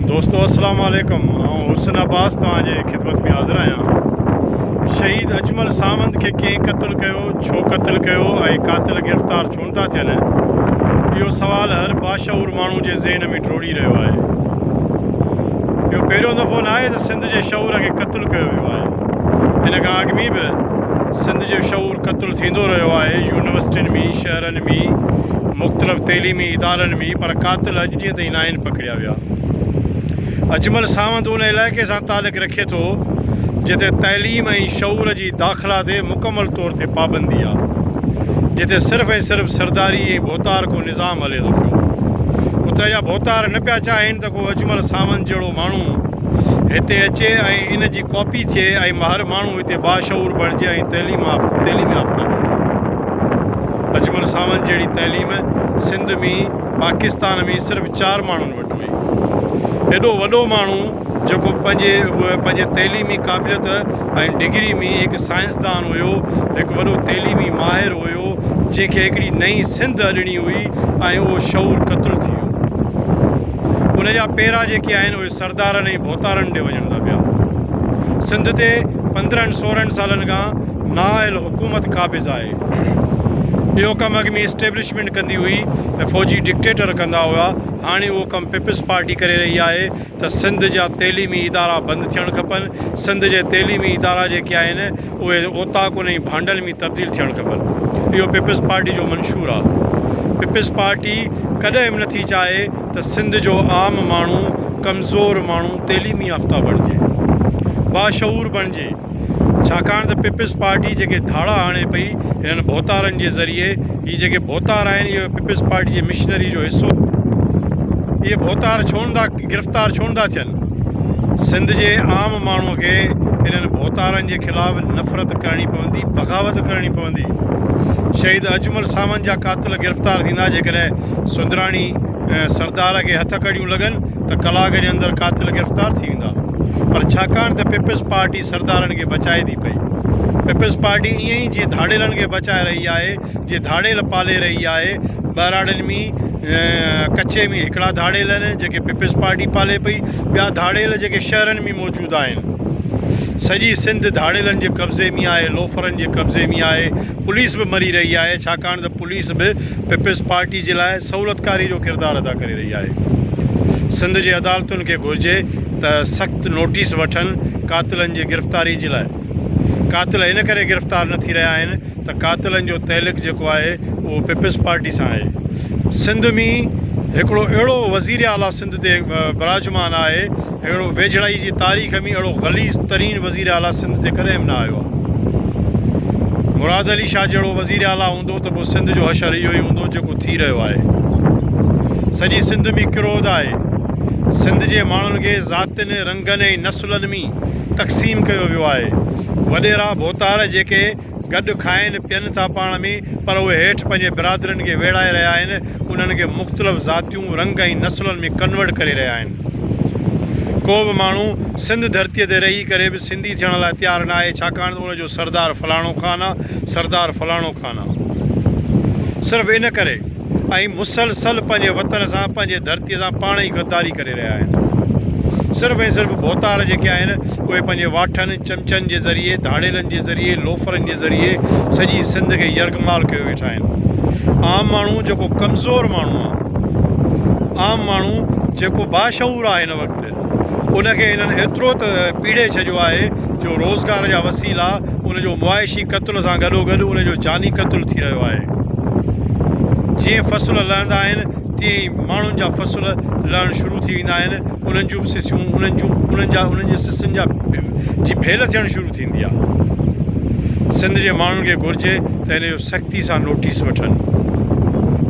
دوستو السلام عليڪم آئون حسن عباس توهان جي خدمت ۾ حاضر آهيان شهيد اجمل ساوند کي ڪنهن قتل ڪيو ڇو قتل ڪيو ۽ قاتل گرفتار ڇو نٿا ٿين اهو سوال هر باشعور ماڻهو جي ذهن ۾ ڊوڙي رهيو آهي اهو پهريون دفعو نه آهي ته سنڌ جي شعور کي قتل ڪيو ويو آهي هن کان اڳ ۾ به سنڌ جو شعور قتل ٿيندو رهيو آهي يونيورسٽين ۾ شهرن ۾ مختلف تعليمي ادارن ۾ پر قاتل اڄ جيئن ته عناين پڪڙيا ويا. اجمل ساوند ان علائقي سان تعلق رکي ٿو جتي تعليم ۽ شعور جي داخلا تي مڪمل طور تي پابندي آ. جتي صرف ۽ صرف سرداري ۽ ڀوتار ڪو نظام هلي ٿو پيو. اتي جا ڀوتار نه پيا چاهين ته ڪو اجمل ساوند جهڙو ماڻهو هتي اچي ۽ ان جي ڪاپي ٿئي ۽ هر ماڻهو هتي باشعور بڻجي ۽ تعليم تعليم يافته بڻجي. اجمل ساوند جهڙي تعليم سنڌ ۾ پاڪستان ۾ صرف چار ماڻهن وٽ هئي. ايڏو وڏو ماڻهو جيڪو پنهنجي پنهنجي تعليمي قابليت ۽ ڊگري ۾ هڪ سائنسدان هيو، هڪ وڏو تعليمي ماهر هيو، جنهن کي هڪڙي نئين سنڌ اڏڻي هئي ۽ اهو شعور قتل ٿي ويو. ان جا پيرا جيڪي آهن اهي سردارن ۽ ڀوتارن ڏي وڃن ٿا پيا. سنڌ تي پندرهن سورهن سالن کان نااهل حڪومت قابض آهي. اهو ڪم اڳ ۾ اسٽيبلشمينٽ ڪندي هئي ۽ فوجي ڊڪٽيٽر ڪندا هئا، هاڻي اهو ڪم پيپلز پارٽي ڪري رهي آهي ته سنڌ جا تعليمي ادارا بند ٿيڻ کپن، سنڌ جي تعليمي ادارا جيڪي آهن اهي اوطاقن ۽ ڀانڊن ۾ تبديل ٿيڻ کپن، اهو پيپلز پارٽي جو منشور آهي. پيپلز پارٽي ڪڏهن به نٿي چاهي ته سنڌ جو عام ماڻهو، ڪمزور ماڻهو تعليمي يافته بڻجي، باشعور بڻجي. ڇاڪاڻ ته پيپلز پارٽي جيڪي ڌاڙا هڻي پئي انهن ڀوتارن جي ذريعي هي جيڪي ڀوتار آهن اهي پيپلز پارٽي جي مشنري جو حصو اهي ڀوتار ڇو نه ٿا گرفتار ڇو نه ٿا ٿين سنڌ جي عام ماڻهو کي انهن ڀوتارن جي خلاف نفرت ڪرڻي پوندي بغاوت ڪرڻي پوندي شهيد اجمل ساوند جا قاتل گرفتار ٿيندا جيڪڏهن سندراڻي سردار کي هٿ ڪڙيون لڳن ته ڪلاڪ جي اندر قاتل گرفتار ٿي ويندا. پر ڇاڪاڻ ته پيپلز پارٽي سردارن کي بچائي ٿي پئي. پيپلز پارٽي ائين ئي جيئن ڌاڙيلن کي بچائي رهي آهي، جيئن ڌاڙيل پالي رهي آهي. ٻهراڙين ۾ ڪچي ۾ هڪڙا ڌاڙيل آهن جيڪي پيپلز پارٽي پالي پئي، ٻيا ڌاڙيل جيڪي شهرن ۾ موجود آهن. سڄي سنڌ ڌاڙيلن جي قبضي ۾ آهي، لوفرن جي قبضي ۾ آهي. پوليس به مري رهي آهي ڇاڪاڻ ته. پوليس به پيپلز پارٽي جي لاء سهولتڪاري جو ڪردار ادا ڪري رهي آهي، سنڌ جي عدالتن کي گهرجي ته سخت نوٽيس وٺن قاتلن جي گرفتاري جي لاء، قاتل ان ڪري گرفتار نه ٿي رهيا آهن ته قاتلن جو تعلق جيڪو آهي اهو پيپلز پارٽي سان آهي، سنڌ ۾ هڪڙو اهڙو وزير اعليٰ سنڌ تي براجمان آهي اهڙو ويجهڙائي جي تاريخ ۾ اهڙو غليظ ترين وزير اعليٰ سنڌ تي ڪڏهن به نه آيو آهي. مراد علي شاهه جهڙو وزير اعليٰ هوندو ته پوء سنڌ جو حشر اهو ئي هوندو جيڪو ٿي رهيو آهي. سڄي سنڌ ۾ ڪروڌ آهي. سنڌ جي ماڻهن کي ذاتين، رنگن ۽ نسلن ۾ تقسيم ڪيو ويو آهي. وڏيرا ڀوتار جيڪي گڏ کائين پين ٿا پاڻ ۾ پر اهي هيٺ پنهنجي برادرين کي ويڙهائي رهيا آهن انهن کي مختلف ذاتيون رنگ ۽ نسلن ۾ ڪنورٽ ڪري رهيا آهن ڪو به ماڻهو سنڌ ڌرتي تي رهي ڪري به سنڌي ٿيڻ لاء تيار ناهي ڇاڪاڻ ته ان جو سردار فلاڻو خان آ سردار فلاڻو خان آ صرف ان ڪري ۽ مسلسل پنهنجي وطن سان پنهنجي ڌرتي سان پاڻ ئي غداري ڪري رهيا آهن صرف ۽ صرف ڀوتار جيڪي آهن اهي پنهنجي واٺن چمچن جي ذريعي ڌاڙيلن جي ذريعي لوفرن جي ذريعي سڄي سنڌ کي يرغمال ڪيو ويٺا آهن عام ماڻهو جيڪو ڪمزور ماڻهو آهي عام ماڻهو جيڪو باشعور آهي هن وقت ان کي هنن ايترو ته پيڙهي ڇڏيو آهي جو روزگار جا وسيلا ان جو معاشي قتل سان گڏوگڏ ان جو جاني قتل ٿي رهيو آهي. جيئن فصل لهندا آهن تيئن ئي ماڻهن جا فصل لهڻ شروع ٿي ويندا آهن، انهن جون به سسيون، انهن جون، انهن جا، انهن جي سسين جا جي ڀيل ٿيڻ شروع ٿيندي آهي. سنڌ جي ماڻهن کي گهرجي ته ان جو. سختي سان نوٽيس وٺن.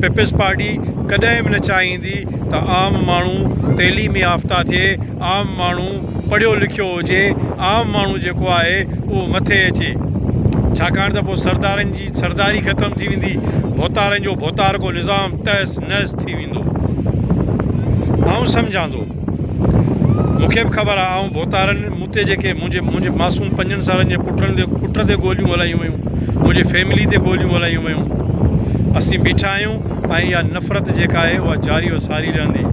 پيپلز پارٽي ڪڏهن به نه چاهيندي ته عام ماڻهو تعليم يافته ٿئي، عام ماڻهو پڙهيو لکيو هجي، عام ماڻهو جيڪو آهي اهو مٿي اچي. ڇاڪاڻ ته پوء سردارن جي سرداري ختم ٿي ويندي، ڀوتارن جو ڀوتارڪو نظام تهس نهس ٿي ويندو. آئون سمجهان ٿو. مون کي به خبر آ آئون ڀوتارن، مون تي جيڪي منهنجي منهنجي معصوم پنجن سالن جي پٽن تي پٽ تي گوليون هلايون ويون، منهنجي فيملي تي گوليون هلايون ويون. اسين بيٺا آهيون ۽ اها نفرت جيڪا آهي اها جاري و ساري رهندي.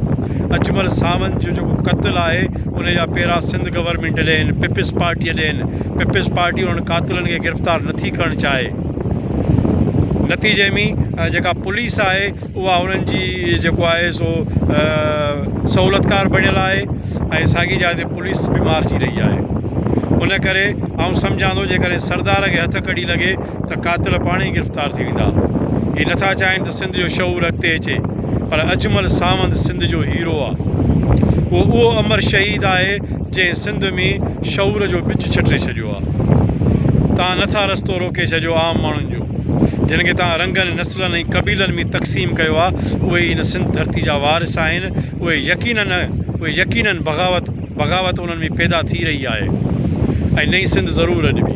اجمل ساوند جو جيڪو قتل آهي ان جا پيرا سنڌ گورنمينٽ ڏين، پيپلز پارٽيء ڏين، پيپلز پارٽي انهن قاتلن کي گرفتار نٿي ڪرڻ چاهي. نتيجي ۾ جيڪا پوليس آهي اها انهن جي جيڪو آهي سو سهولتڪار بڻيل آهي ۽ ساڳي جاء تي پوليس به مارچي رهي آهي ان ڪري آئون سمجهان ٿو جيڪڏهن سردار کي هٿ ڪڙي لڳي ته قاتل پاڻ ئي گرفتار ٿي ويندا هي نٿا چاهين ته سنڌ جو شعور اڳتي اچي پر اجمل ساوند سنڌ جو هيرو آهي اهو اهو امر شهيد آهي جنهن سنڌ ۾ شعور جو ٻج ڇٽي ڇڏيو آهي تان نٿا رستو روڪي ڇڏيو عام ماڻهن جو جن کي توهان رنگن، نسلن ۽ قبيلن ۾ تقسيم ڪيو آهي، اهي ئي هن سنڌ ڌرتي جا وارث آهن. اهي يقينن اهي يقينن بغاوت بغاوت انهن ۾ پيدا ٿي رهي آهي ۽ نئين سنڌ ضرور اڏبي.